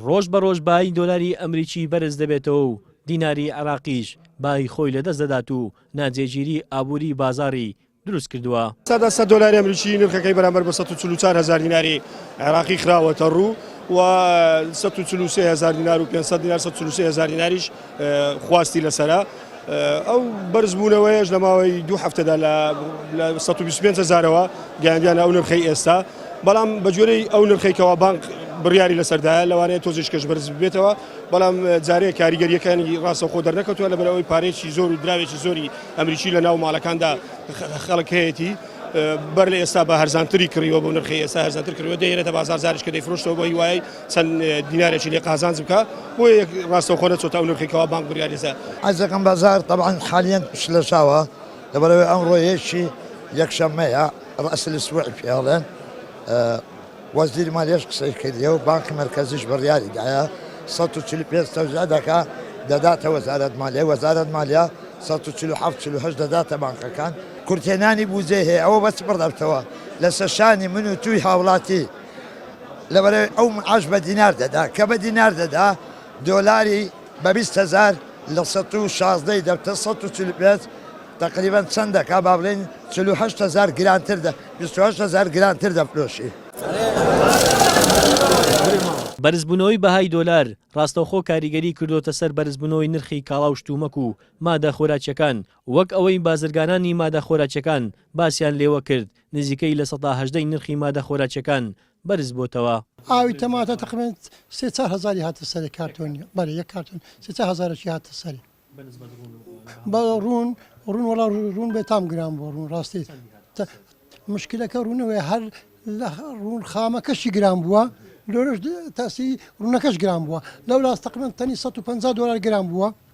ڕۆژ بە ڕۆژ بایی دۆلاری ئەمریکی بەرز دەبێتەوە و دیناری عێراقیش بایی خۆی لە دەست دەدات و ناجێگیری ئابووری بازاڕی دروست کردووە. سەدا سەد دۆلاری ئەمریکی نرخەکەی بەرامبەر بە سەد و چل و چوار هەزار دیناری عێراقی خراوەتە ڕوو و سەد و چل و سێ هەزار دینار و پێنج سەد دینار سەد و چل و سێ هەزار دیناریش خواستی لەسەرە. ئەو بەرزبوونەوەیەش لە ماوەی دوو هەفتەدا لە لە سەد و بیست و پێنج هەزارەوە گەیاندیانە ئەو نرخەی ئێستا، بەڵام بە گوێرەی ئەو نرخەی کەوا بانک بڕیاری لەسەردایە لەوانەیە تۆزیشکەش بەرز ببێتەوە، بەڵام جارێ کاریگەرییەکانی ڕاستەوخۆ دەرنەکەوتووە لەبەر ئەوەی پارەیەکی زۆر و دراوێکی زۆری ئەمریکی لەناو ماڵەکاندا خەڵک هەیەتی، بەر لە ئێستا بە هەرزانتری کڕیوە بۆ نرخی ئێستا هەرزانتر کڕیوە دەیهێنێتە بازاڕ جاریشکە دەیفرۆشتەوە بۆ هیوای چەند دینارێکی لێ قازانج بکا بۆ یەک ڕاستەوخۆ نەچۆتە ئەو نرخی کەوا بانک بڕیاریسە. عەزەکەم بازار تەبعەن حالیەن شلەژاوە لەبەرئەوەی ئەمڕۆ یەکی یەکشەممەیە ڕەئس الاسبوع پێ ئەڵێن وەزیری مالیەش قسەی کردیە و بانکی مەرکەزیش بڕیاری دایە سەد و چل و پێنج تەوزیع دەکا دەداتە وەزارەت مالیە وەزارەت مالیە سەد و چل و حەفت چل و هەشت دەداتە بانکەکان کورتهێنانی بوجەی هەیە ئەوە بەچ بڕەبتەوە لەسەر شانی من و تووی هاوڵاتی. لەبەرەی ئەو معاش بە دینار دەدا کە بە دینار دەدا دۆلاری بە بیست هەزار لە سەد و شازدە ی دەبتە سەد و چل و پێنج تەقریبەن چەند دەکا با بڵێین چل و هەشت هەزار گرانتر دە بیست و هەشت هەزار گرانتر دەفرۆشی. بەرزبوونەوەی بەهای دۆلار ڕاستەوخۆ کاریگەری کردۆتە سەر بەرزبوونەوەی نرخی کاڵا و شتومەک و مادە خۆراکیەکان وەک ئەوەی بازرگانانی مادە خۆراکیەکان باسیان لێوە کرد نزیکەی لە سەدا هەژدەی نرخی مادە خۆراکییەکان بەرزبۆتەوە. ئاوی تەماتە تەقریبەن سێ چار هەزاری هاتە سەری کارتۆنی بەرە یەک کارتۆن سێ چار هەزارەکی هاتە سەری بە ڕوون ڕوون وەڵا ڕوون بێ تام گران بۆ ڕوون ڕاستی مشکلەکە ڕوونەوەی هەر لە ڕوون خامەکەشی گران بووە لۆرەش تاسی ڕوونەکەش گران بووە لەو لاستەقمن تەنی 150 دلار گران بووە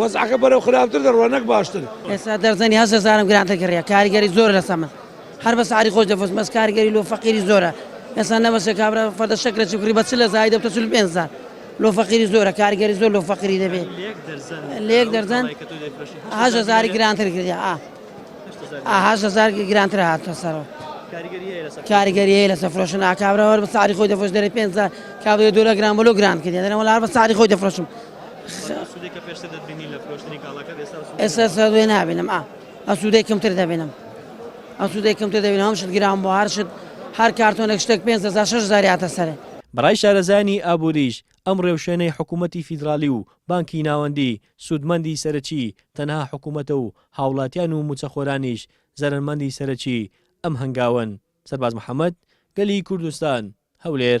وەزعەکە بەرەو خراپتر دەڕوا نەک باشتر. ئێستا دەرزەنی هەشت هەزارم گرانتر کڕیە کاریگەری زۆرە لەسەر من هەر بە سعری خۆش دەفرۆشم بەس کاریگەری لۆ فەقیری زۆرە ئێستا نەبەشە کابرا فەردە شەکرەچی کڕی بە چل هەزاری دەبتە چل و پێنج هەزار لۆ فەقیری زۆرە کاریگەری زۆر لۆ فەقیری دەبێ لە یەک دەرزەن هەشت هەزاری گرانتر کردیا ئا ئا هەشت هەزار گرانتر هاتە سەرەوە کاریگەری هەیە لەسەر فرۆشتن ئا کابرا هەر بە سعری خۆی دەفرۆش دەرێ پێنج هەزار کابرا دۆلار گران بۆ لۆ گران کردیە دەرێ وەڵا هەر بە سعری خۆی دەفرۆشم ئێستا سەدوێ نابێنم ئا ئەسوودەی کەمتر دەبێنم ئەسوودەی کەمتر دەبێن هەم شت گران بۆ هەر شت هەر کارتۆنێک شتێک پێ هزار شش زاریاتە سەرێ بەڕای شارەزایانی ئابووریش، ئەم ڕێوشوێنەی حکوومەتی فیدراڵی و بانکی ناوەندی، سوودمەندی سەرەکی تەنها حکوومەتە و هاوڵاتیان و مووچەخۆرانیش زەرەرمەندی سەرەکی ئەم هەنگاوەن. سەرباز محەمەد، گەلی کوردستان، هەولێر.